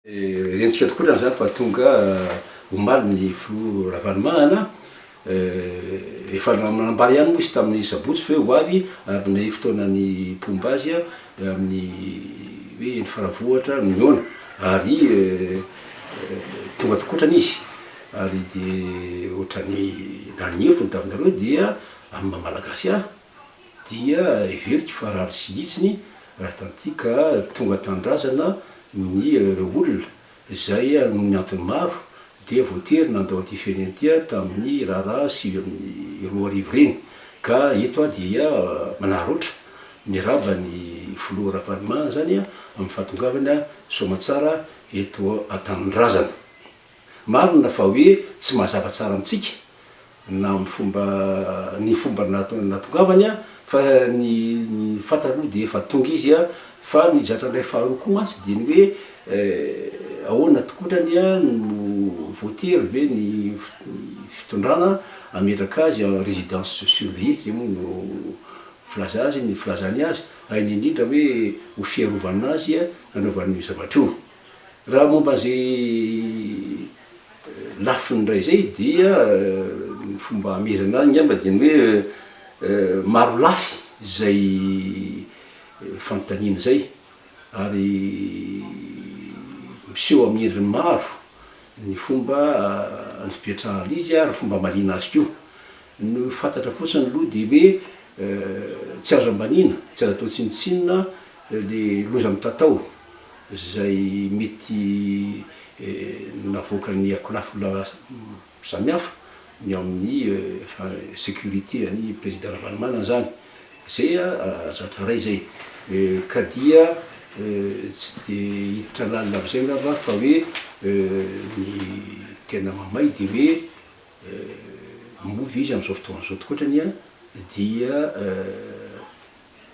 Henjika tokoa raha izany fa tonga omaly ny filoha Ravalomanana. Efa nanambara ihany moa izy tamin'ny sabotsy fa hoe ho avy ary nomey fotoana ny mpomba azy amin'ny hoe eny Faravohitra no mihaona. Ary tonga tokoa otrany izy. Ary dia otrany naniriko ny tavinareo dia amin'ny maha malagasy ahy. dia heveriko fa raha tsy hitsiny raha hitantika tonga tanindrazana ny olona izay noho ny antony maro dia voatery nandao ity firenena ity tamin'ny raharaha sivy amby roa arivo ireny ka eto aho dia manararaotra miarahaba ny filoha Ravalomanana izany amin'ny fahatongavany soamatsara eto an-tanindrazana. Marina fa hoe tsy mazava tsara amintsika na ny fomba ny fomba natongavany fa ny fantatra aloha dia efa tonga izy fa ny zatra-ndray faharoa koa mantsy dia ny hoe ahoana tokoatrany no voatery ve ny fitondrana hametraka azy en residence surveillée, izay moa no filaza azy ny filazany azy, indrindra hoe ho fiarovana azy hanaovany io zavatra io. Raha momba izay lafiny indray izay dia ny fomba hamerana azy angamba dia ny hoe maro lafy izay fanontaniana izay ary miseho amin'ny endriny maro ny fomba nipetrahan'izy ary ny fomba hamaliana azy koa. Ny fantatra fotsiny aloha dia hoe tsy azo ambaniana, tsy azo atao tsinontsinona ilay loza mitatao izay mety navoakan'ny akolafy samihafa ny ao amin'ny sécurité an'i Président Ravalomanana izany. Izay zatra iray izay. Ka dia tsy dia hiditra lalina amin'izay angamba aho fa hoe ny tena mahamay dia hoe. Miova izy amin'izao fotoana izao tokoa ohatra anie dia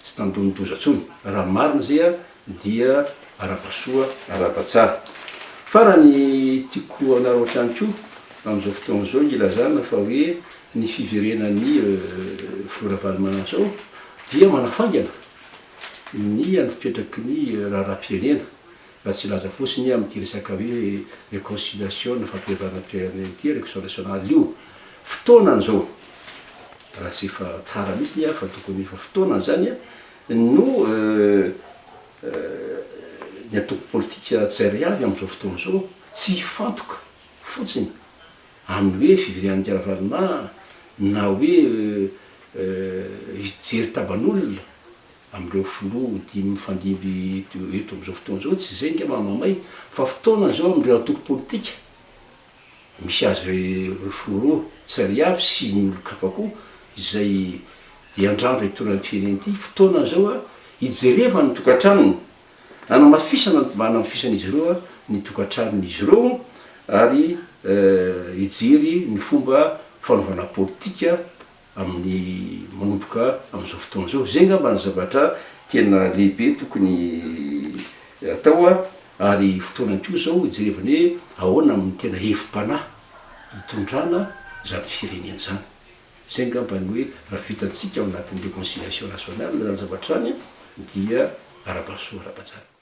tsy tandindoza intsony. Raha marina izay dia arapa-soa, arapa-tsara. Farany, tiako anareo hatrany koa amin'izao fotoana izao ny ilazana fa hoe ny fiverenan'i Filoha Ravalomananjao dia manafaingana ny an'ny fipetraky ny raharaham-pirenena Raha tsy hilaza fotsiny amin'ity resaka hoe reconciliation na fampihavana ity an ity reconciliation nationale io, fotoanany izao, raha tsy efa tara mihitsy ny ahy fa tokony efa fotoanany izany, no ny antoko politika tsirairay avy amin'izao fotoana izao tsy hifantoka fotsiny amin'ny hoe fivilian'ity Ravaloman na hoe hijery taban'olona amin'ireo filoha dimy mifandimby eto amin'izao fotoana izao, tsy izay ange mahamamay fa fotoana izao amin'ireo antoko politika misy azy ireo filoha ireo tsy ry avy sy ny olon-kafa koa izay dia handràndra hitondra ny firenena ity fotoana izao hijerevany ny tokantranony, hanamafisana mba hanamafisan'izy ireo ny tokantranon'izy ireo ary hijery ny fomba fanaovana politika amin'ny manomboka amin'izao fotoana izao. Izay angamba no zavatra tena lehibe tokony atao ary fotoanany koa izao hijerevana hoe ahoana no tena hevi-panahy hitondrana izany firenena izany. Izay angamba no hoe raha vitantsika ao anatin'ny reconciliation nationale izany zavatra izany dia arabaisoa ara-bazaha.